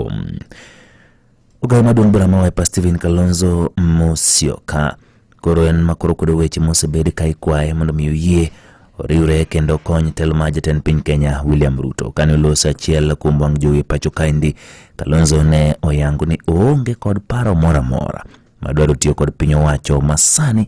Kiambu. Ogayo maduong' bura ma Wiper Stephen Kalonzo Musyoka koro en ma koro kwedo weche mosebed ka ikwaye mondo mi oyie oriwre kendo okony telo ma jatend piny Kenya William Ruto. Kane oloso achiel kuom wang' jowi e pacho kaendi, Kalonzo ne oyango ni oonge kod paro moro amora madwaro tiyo kod piny owacho masani